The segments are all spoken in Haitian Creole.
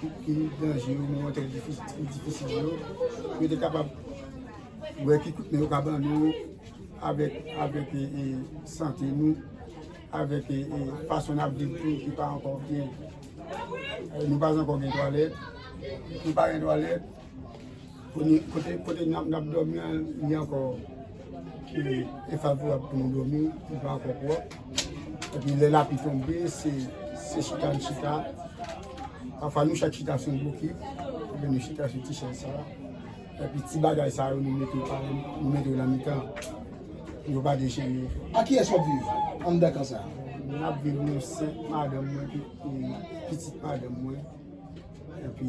ki danje yo, moman ki difisil yo, pou yo te kapab wè ki kout men yo ka ban nou avèk sante nou, avèk fason n ap viv tou ki pa ankò byen. Nou pa gen twalèt, nou pa gen twalèt. Kote n ap dòmi an li ankò defavorab pou nou dòmi, li pa ankò pwòp. Epi lè lapli tonbe, se chita n chita. Pafwa nou chak chita sou yon bokit, oubyen nou chita sou ti chèz sa a. Epi ti bagay sa yo nou mete yo nan mitan pou yo pa dechire yo. Ak kiyès w ap viv anndan kan sa a? Mwen ap viv nou senk madanm mwen epi pitit madanm mwen. Epi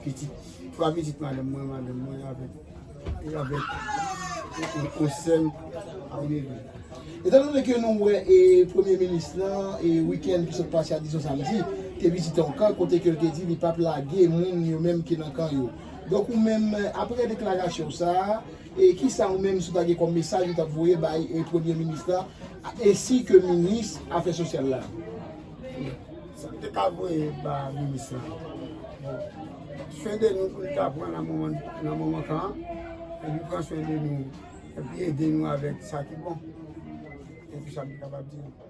pitit, 3 pitit madanm mwen, madanm mwen avèk, e avèk yon sèm a Wini. Etan done ke nou wè e premye minis lan e wikenn ki sot pase a dizon samdi, te vizite yon kan kote ke l te di li pap lage moun yo menm ki nan kan yo. Donk ou menm apre deklarasyon w sa a, e kisa ou menm si w ta gen kòm mesaj ou t ap voye bay e premye minis lan esi ke minis afè sosyal la? Sa m te ka voye ba minis la bon swen de nou pou li ta pran nan moman nan moman sa an epi pran swen de nou epi ede nou avèk sa ki bon se tout sa m te kapab di nou.